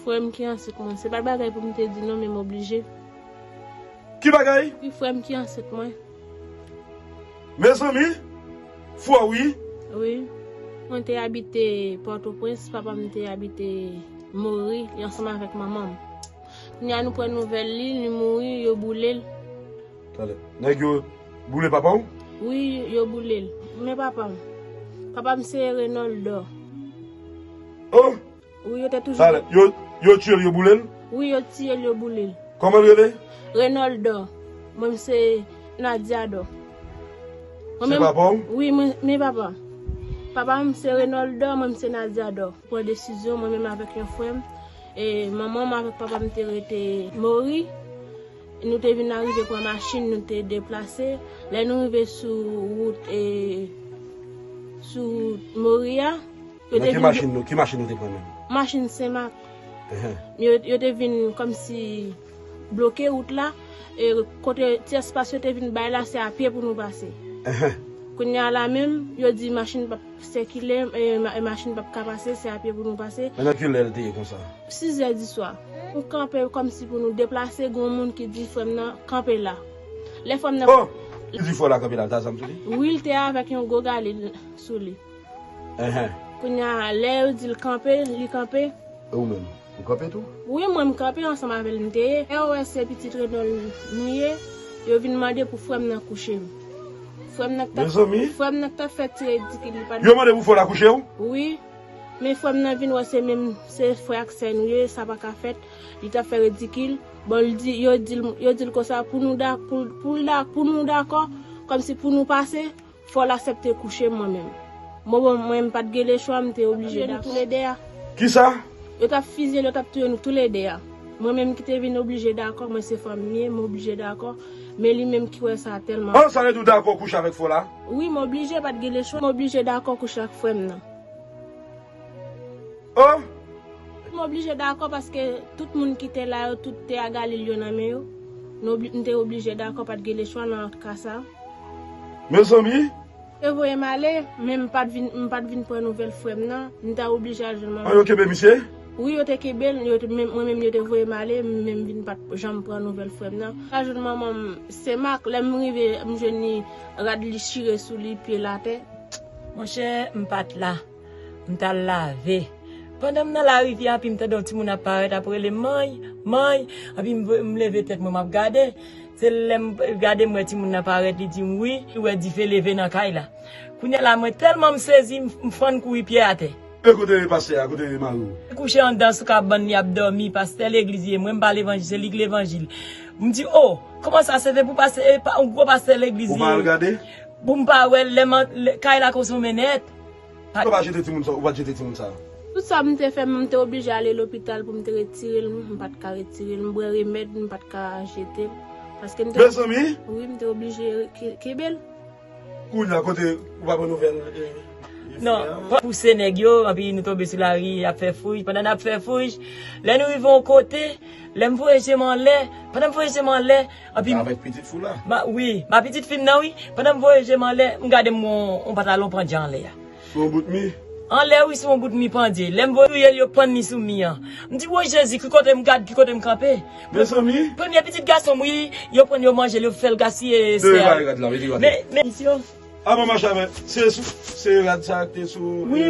Frèm ki ansent mwen. Se pat bagay poum te di non men m oblije. Ki bagay? Wi frèm ki ansent mwen. Mezanmi fò wi. Wi Mwen te abite pòtoprens papam te abite mouri li ansanm avèk manmanm kounya nou pran nouvèl li li mouri yo boulel. Tande. Nèg yo boule papa w? Wi yo boulel. Men papam. Papam se Renoldor. Oh! Wi yo te toujou Sa lè. Yo, yo tiyel yo boule l? Wi yo tiyel yo boule l. Koman l rele? Renoldo. Mwen m se Nadiado. Mwen menm Se papa w? Wi mwen, men papa m. Papa m se Renoldo, mwen m se Nadiado. Pran desizyon mwen menm avèk yon frè m. E manman m avèk papa m te rete Mori. Nou te vin arive pran machin nou te deplase. Lè nou rive sou wout e, sou wout Mori a. Nan ki machin nou, ki machin nou te pran menm? Machin Senmak. Yo te vin kòm si bloke wout la, e kote ti espas yo te vin bay la, se a pye pou nou pase. Kounye a la menm, yo di machin pap sikile, machin pap ka pase, se a pye pou nou pase. Nan ki lè li te ye konsa? Sizè di swa. Nou kanpe kòm si pou nou deplase, gen yon moun ki di frè m nan, kanpe la. Lè frè m nan. Oh! Li di frè w la kanpe la, li ta zam sou li? Wi, li te avèk yon gwo galil sou li. Enh. Kounya lè yo dil kanpe li kanpe. E ou menm? Ou kanpe tou? Wi mwen m kanpe ansanm avèl m te ye lè yo wè se pitit Renold nou ye yo vin mande pou frèm nan kouche m frèm nan k tap fè ti ridikil li pat Yo mande pou frè w la kouche w? Wi men frèm nan vin wè se menm se frè ak sè nou ye sa paka fèt li tap fè ridikil bon l di yo dil konsa pou nou dakò kòmsi pou nou pase Fòl asepte kouche mwen menm. Bon bon mwen m pat gen le chwa m te oblije dakò. Yo tap touye nou tou le 2 a. Kisa? Yo tap fizye l yo tap touye nou tou le 2 a. Mwen menm ki te vin oblije dakò mwen se fanm m ye m oblije dakò men li menm ki wè sa tèlman. An sa vle di ou dakò kouche avèk fòl a? Wi m oblije pat gen le chwa m oblije dakò kouche ak frè m nan. Oh! M oblije dakò paske tout moun ki te la yo tout te a Galil yo nan men yo. M te oblije dakò pat gen lechwa nan ka sa. Mezanmi! Yo te voye m ale, men m pat vin m pat vin pran nouvèl frè m nan. M ta oblije al jwenn manman m. An yo kenbe misye? Wi yo te kenbe l, yo te men mwen menm yo te voye m ale, men m vin pat janm pran nouvèl frè m nan. M al jwenn manman m Sen Mak, lè m rive m jwenn li rad li chire sou li, pye l atè. Monchè m pat la. M t al lave. Pandan m nan larivyè a, epi m tande yon timoun ap parèt, ap rele, Many! Many! Epi m leve tèt mwen, m ap gade. Se lè m gade m wè timoun nan parèt, li di m wi, li wè dife leve nan kay la. Kounye a la, mwen tèlman m sezi, m fann kouri pyè atè. E kote pastè a? Kote mari w? Li kouche anndan sou kabann li ap dòmi. Pastè legliz ye. Mwen m pa levanjil, se li ki levanjil. M di, O! Kòman sa? Se te pou yon gwo pastè legliz li ye. Ou pa al gade? Pou m pa wè l. Kay la konsonmen nèt. Pou yo pa jete timoun sa, ou pa t jete timoun sa. Tout sa m te fè, m te oblije ale lopital pou m te retire l, m pa t ka retire l. M bwè remèd, m pa t ka jete l. Paske m te. Mezanmi! Wi, m te oblije kenbe l. Kounye a, kote ou pa pran nouvèl e. Non, pa. Pouse nèg yo, anpi nou tonbe sou lari y ap fè fouj. Pandan n ap fè fouj, lè nou rive yon kote, lè m voye je m anlè, pandan m voye je m anlè. Anpi m. Ou ta avèk pitit fi w la? Ma, wi. Ma pitit fi m nan, wi. Pandan m voye je m anlè, m gade m wè yon pantalon pandje anlè a. Sou yon bout mi? Anlè, wi, sou yon bout mi pandje. Lè m voye touye l, yo pann li sou mi an. M di, Wo Jezi, ki kote m gad, ki kote m kanpe? Mezanmi! Premye pitit gason m, wi. Yo pran l, yo manje l, yo fè l gaspiye espè a. Leve rad la, leve rad la. Men, men. Misye. Aba mache avè. Se sou, se rad sa a ki te sou. Wi.